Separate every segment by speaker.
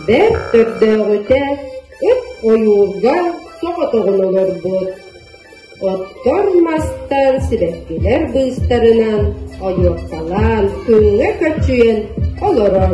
Speaker 1: Бэрт төрдөөҕүтэ ыт ойуурга соҕотоҕун олорбут. Оттор мастан сибэккилэр быыстарынан ойуоккалаан күҥҥэ көччүйэн олорор.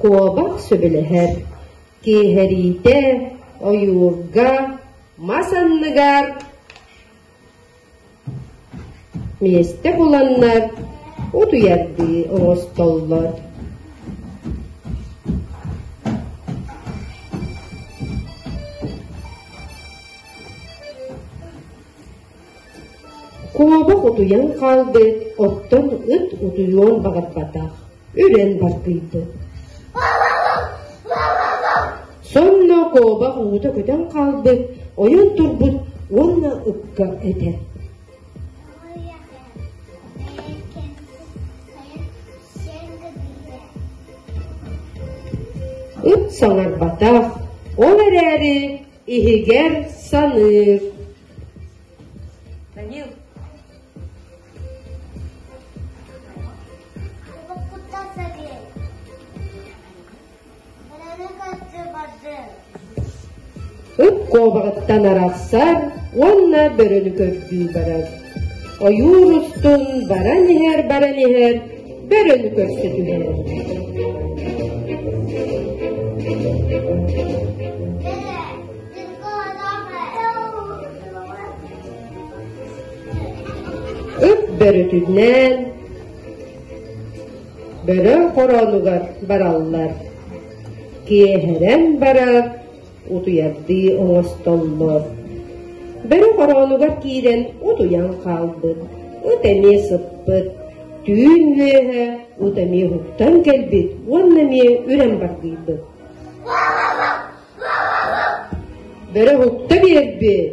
Speaker 1: Куобах сөбүлэһэр, киэһэриитэ, ойуурга, мас анныгар Миэстэ буланнар утуйардыы оҥостоллор Куобах утуйан хаалбыт, оттон ыт утуйуон баҕарбатах үрэн бартыйда. Сонно куобах уута көтөн хаалбыт, ойон турбут уонна ыкка этэ. Ыт саҥарбатах, ол эрээри иһигэр саныыр. Данил, Ук куобаҕыттан арахсар уонна бөрөнү көрдүү барар. Ойуур устун баран иһэр баран иһэр бөрөнү көрсө түһэр. Ып бөрүтүнээн бөрө хороонугар бараллар, киэһэрэн барар утуйардыы оҥостоллор. Бөрө хороонугар киирэн утуйан хаалбыт, ыт эмиэ сыппыт, түүн үөһэ ыт эмиэ уһуктан кэлбит уонна эмиэ үрэн баргыйбыт. Бөрө уһукта биэрбит,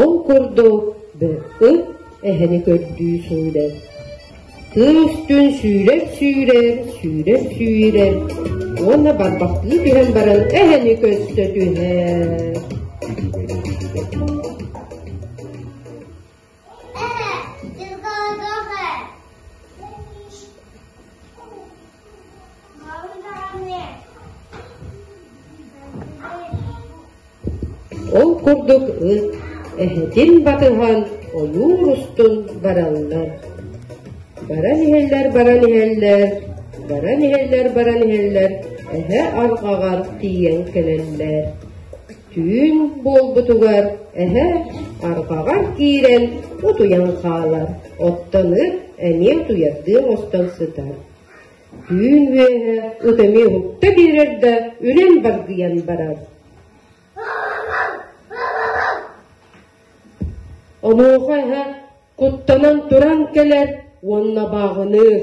Speaker 1: Ол курдук БЭ эһэни көрдүү сүүрэр. Кыыс түн сүүрэр-сүүрэр, сүүрэр-сүүрэр уонна барбахтыы түһэн баран эһэни көстө түһэр. Ол курдук ыт эһэтин батыһан ойуур устун бараллар. Баран иһэллэр, баран иһэллэр, баран иһэллэр, баран иһэллэр, эһэ арҕаҕар тиийэн кэлэллэр. түүн буолбутугар эһэ арҕаҕар киирэн утуйан хаалар, оттон ыр эмиэ утуйардыы оҥостон сытар. Түүн үөһэ ыт эмиэ уһукта биэрэр да үрэн баргыйан барар. Онуоха эһэ куттанан туран кэлэр уонна бааҕыныыр.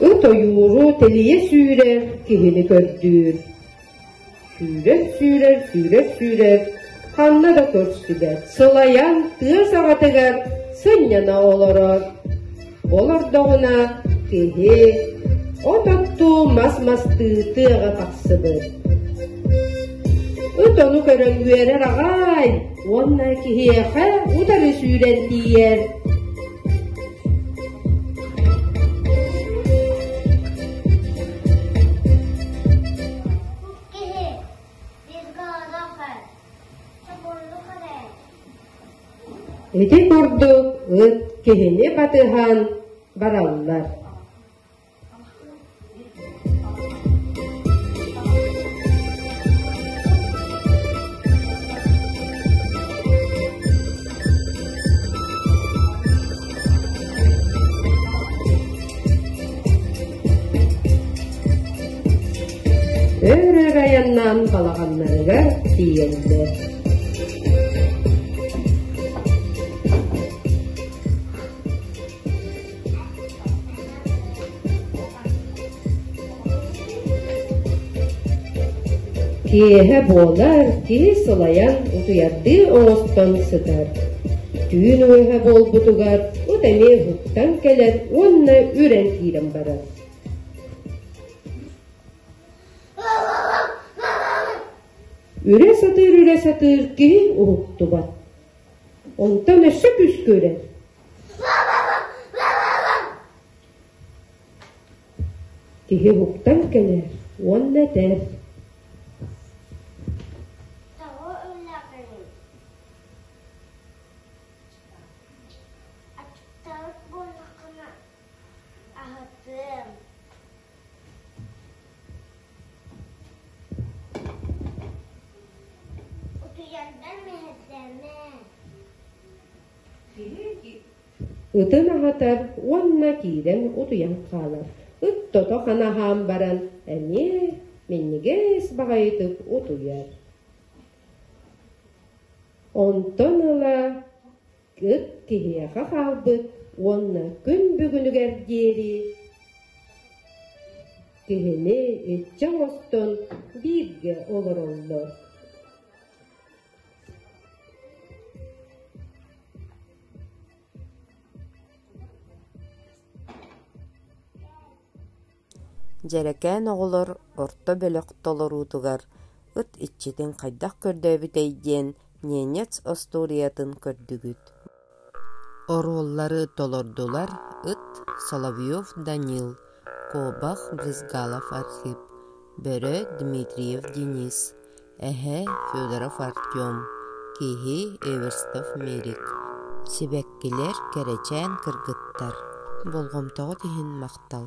Speaker 1: От ойууру тэлийэ сүүрэр киһини көрдүүр. Сүүрэр, сүүрэр, сүүрэр, сүүрэр, ханна да көрсүбэт, сылайан тыа саҕатыгар сынньана олорор. Ол ордоҕуна киһи от оттуу мас мастыы тыаҕа тахсыбыт. Ыт ону көрөн үөрэр аҕай уонна киһиэхэ утары сүүрэн тиийэр. Ити курдук ыт киһини батыһан бараллар өр-өр айаннаан балаҕаннарыгар тиийэллэр Киэһэ буолар киһи сылайан утуйардыыр оҕостон сытар. Түүн үөһэ буолбутугар от эмиэ уһуктан кэлэр уонна үрэн киирэн барар. Үрэ сатыыр үрэ сатыыр киһи уһуктубат. Онтон өссө күүскэ үрэр. Киһи уһуктан кэлэр уонна этэр Аһатыам Ытын аһатар уонна киирэн утуйан хаалар. Ыт тото ханаһаан баран эмиэ минньигэс баҕайытык утуйар. Онтон ыла Ыт киһиэхэ хаалбыт уонна күн бүгүнүгэр диэри киһини иччи оҥостон бииргэ олороллор. Дьэрэкээн оҕолор орто бөлөх толоруутугар «Ыт иччитин хайдах көрдөөбүтэй?» диэн ненец остуоруйатын көрдүгүт. Оруоллары толордулар ыт, Соловьев Данил, куобах Брызгалов Архип, бөрө Дмитриев Денис, эһэ Федоров Артем, киһи Эверстов Мерик, сибэккилэр кэрэчээн кыргыттар. Болҕомтоҕут иһин махтал.